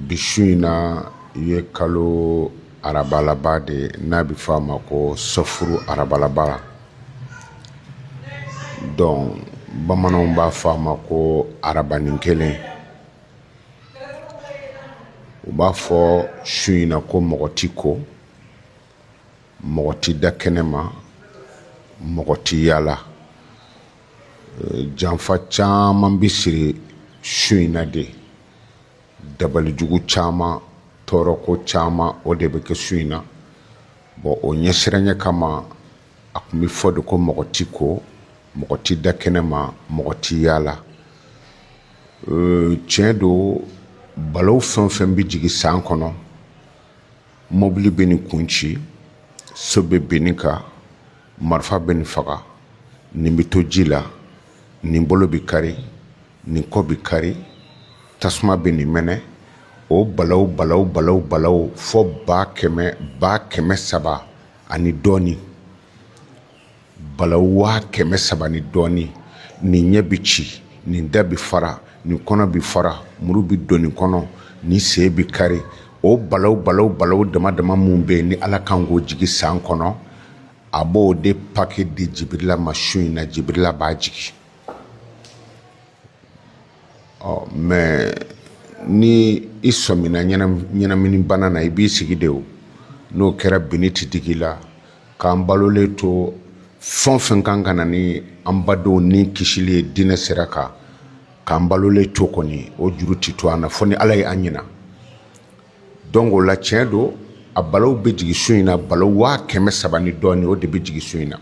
Bi su in na ye kalo araba laban de ye n'a bɛ fɔ a ma ko sɔfuru araba laban donc bamananw b'a fɔ a ma ko arabanin kelen u b'a fɔ su in na ko mɔgɔ tɛ ko mɔgɔ tɛ da kɛnɛ ma mɔgɔ tɛ yaala janfa caman bɛ siri su in na de dabalijugu caman tɔɔrɔko caman o de bɛ kɛ su in na bon o ɲɛsiranɲɛ kama a tun bɛ fɔ de ko mɔgɔ tɛ ko mɔgɔ tɛ da kɛnɛ ma mɔgɔ tɛ yaala tiɲɛ don balaw fɛn o fɛn bɛ jigin san kɔnɔ mɔbili bɛ nin kun ci so bɛ bin nin kan marifa bɛ nin faga nin bɛ to ji la nin bolo bɛ kari nin kɔ bɛ kari tasuma bɛ nin mɛnɛ o balaw balaw balaw balaw fo ba kɛmɛ ba kɛmɛ saba ani dɔɔnin bala waa kɛmɛ saba ni dɔɔnin nin ɲɛ bɛ ci nin da bɛ fara nin kɔnɔ bɛ fara muru bɛ don nin kɔnɔ nin sen bɛ kari o bala bala bala dama dama minnu bɛ yen ni ala kan k'o jigi san kɔnɔ a b'o de pake di jibirila ma su in na jibirila b'a jigin ɔ mais ni i sɔmina ɲɛnamini bana na i b'i sigi de o n'o kɛra binni ti digi i la k'an balolen to fɛn o fɛn kan ka na ni an badenw ni kisili ye diinɛ sira kan k'an balolen to kɔni o juru ti to an na fo ni ala ye an ɲina Donc o la tiɲɛ don a balaw bɛ jigin su in na bala waa kɛmɛ saba ni dɔɔnin o de bɛ jigin su in na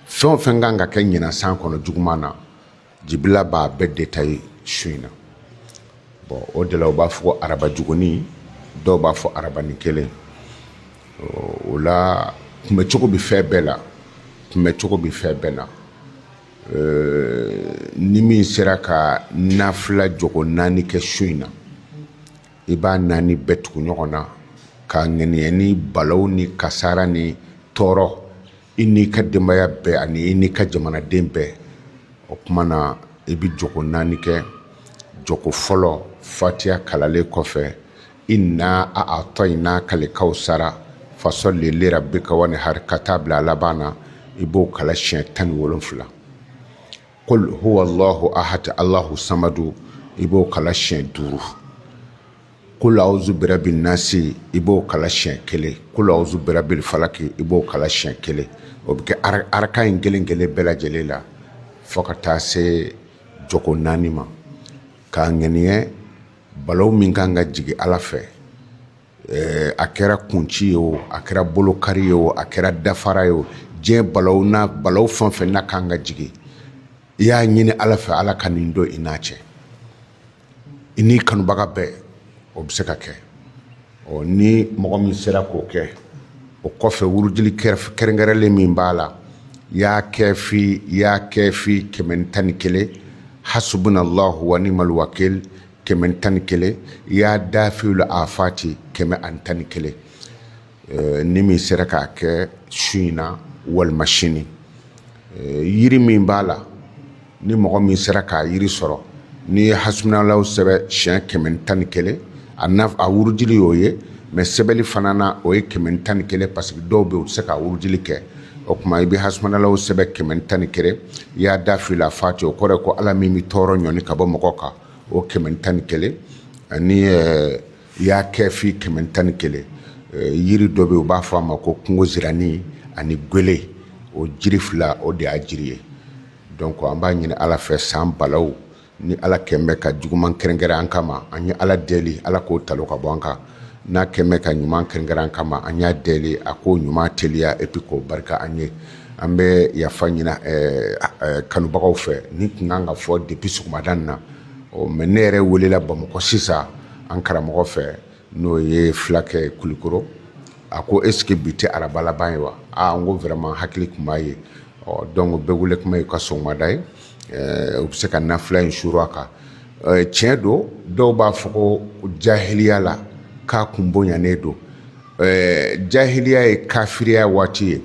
fɛn o fɛn kan ka kɛ ɲinan san kɔnɔ juguman na jibirila b'a bɛɛ détailler su in na bon o de la u b'a fɔ araba jugunin dɔw b'a fɔ arabanin kelen o la kunbɛncogo bɛ fɛn bɛɛ la kunbɛncogo bɛ fɛn bɛɛ na ni min sera ka nafila jɔgo naani kɛ su in na i b'a naani bɛɛ tugu ɲɔgɔn na ka ŋaniya ni balaw ni kasara ni tɔɔrɔ i n'i ka denbaya bɛɛ ani i n'i ka jamanaden bɛɛ o tuma na i bɛ jɔgo naani kɛ jɔgo fɔlɔ fatiya kalanlen kɔfɛ inna a'atainaka al-kawsara fasalli li rabbika wanhari ka taa bila a laban na i b'o kalan siɲɛ tan ni wolonfila kul huwalahu ahad alahu samadu i b'o kala siɲɛ duuru kul awuzu birabi nasi i b'o kala siɲɛ kelen kul awuzu birabil falaki i b'o kala siɲɛ kelen o bɛ kɛ araka in kelen kelen bɛɛ lajɛlen la fo ka taa se jɔko naani ma k'a ŋaniya balawu min kan ka jigin ala fɛ Ɛɛ a kɛra kunci ye o a kɛra bolokari ye o a kɛra dafara ye o diɲɛ balawu fɛn o fɛn n'a kan ka jigin i y'a ɲini ala fɛ ala ka nin don i n'a cɛ i n'i kanubaga bɛɛ o bɛ se ka kɛ ɔ ni mɔgɔ min sera k'o kɛ o kɔfɛ wurudili kɛrɛnkɛrɛnlen min b'a la ya kafi kɛmɛ tan ni kelen hasibunalahu nimali wakilu kɛmɛ tan ni kelen ya dafiwul afati kɛmɛ ani tan ni kelen eh, ni min sera k'a kɛ su in na walima sini eh, yiri min b'a la ni mɔgɔ min sera k'a yiri sɔrɔ n'i ye hasibunalahu sɛbɛn siɲɛ kɛmɛ tan ni kelen a naf a wurudili y'o ye mais sɛbɛnli fana na o ye kɛmɛ tan ni kelen parce que dɔw bɛ yen u tɛ se ka wurudili kɛ o tuma i bɛ hasibunalahu sɛbɛn kɛmɛ tan ni kelen ya dafiwul afati o kɔrɔ ye ko ala min bɛ tɔɔrɔ ɲɔni ka bɔ mɔgɔ kan o kɛmɛ tan ni kelen ani ya kafi kɛmɛ tan ni kelen yiri dɔ bɛ yen u b'a fɔ a ma ko kungo siranin ani gele o jiri fila o de y'a jiri ye donc an b'a ɲini ala fɛ san balawu ni ala kɛlen bɛ ka juguman kɛrɛnkɛrɛn an kama an ye ala deli ala k'o talon ka bɔ an kan n'a kɛlen bɛ ka ɲuman kɛrɛnkɛrɛn an kama an y'a deli a k'o ɲuman teliya et puis k'o barika an ye an bɛ yafa ɲini ɛɛ ɛɛ kanubagaw fɛ nin tun kan ka fɔ depuis sɔgɔmada in na ɔ mais ne yɛrɛ welela Bamakɔ sisan an karamɔgɔ fɛ n'o ye Fulakɛ Kulikoro a ko est ce que bi tɛ araba laban ye wa aa n ko vraiment hakili tun m'a ye ɔ donc bɛɛ wuli kuma y'i ka sɔgɔmada ye u bɛ se ka nafila in suur a kan tiɲɛ don dɔw b'a fɔ ko jahiliya la k'a kun bonyanen don jahiliya ye kafiriya waati ye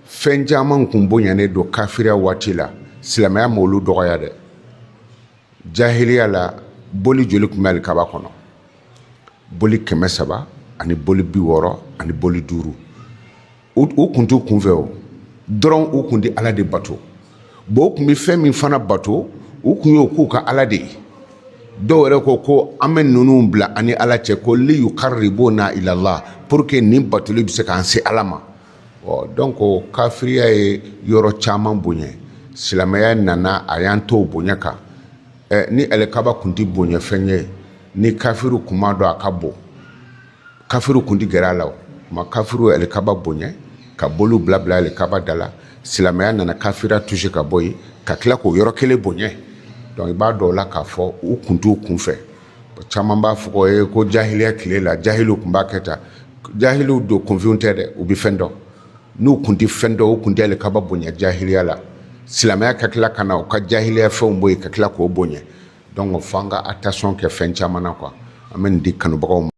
fɛn caman kun bonyanen don kafiriya waati la silamɛya ma olu dɔgɔya dɛ jahiliya la boli joli tun bɛ alikaba kɔnɔ boli kɛmɛ saba ani boli bi wɔɔrɔ ani boli duuru o kun t'u kunfɛ o dɔrɔn u kun di ala de bato bon u tun bɛ fɛn min fana bato u tun y'o k'u ka ala de ye dɔw yɛrɛ ko ko an bɛ ninnu bila an ni ala cɛ ko li yukaribuna ila lahi pour que nin batoli bɛ se k'an se ala ma ɔ donc kafiriya ye yɔrɔ caman bonya silamɛya nana a y'an to bonya kan ni alikaba tun tɛ bonyafɛn ye ni kafiri tun m'a dɔn a ka bon kafiriw kun tɛ gɛrɛ a la o ma kafiriw alikaba bonya ka boliw bila bila alikaba da la silamɛya nana kafiriya tuse ka bɔ yen ka tila k'o yɔrɔ kelen bonya dɔnku i b'a dɔn o la k'a fɔ u kun t'u kun fɛ caman b'a fɔ ye ko jahiliya tile la jahiliw tun b'a kɛ tan jahiliw don kunfinw tɛ dɛ u bɛ fɛn dɔn n'u kun tɛ fɛn dɔn u kun tɛ alikaba bonya jahiliya la silamɛya ka tila ka na u ka jahiliya fɛnw bɔ yen ka tila k'o bonya dɔnku fo an ka atansiyɔn kɛ fɛn caman na kuwa an bɛ nin di kanubagaw ma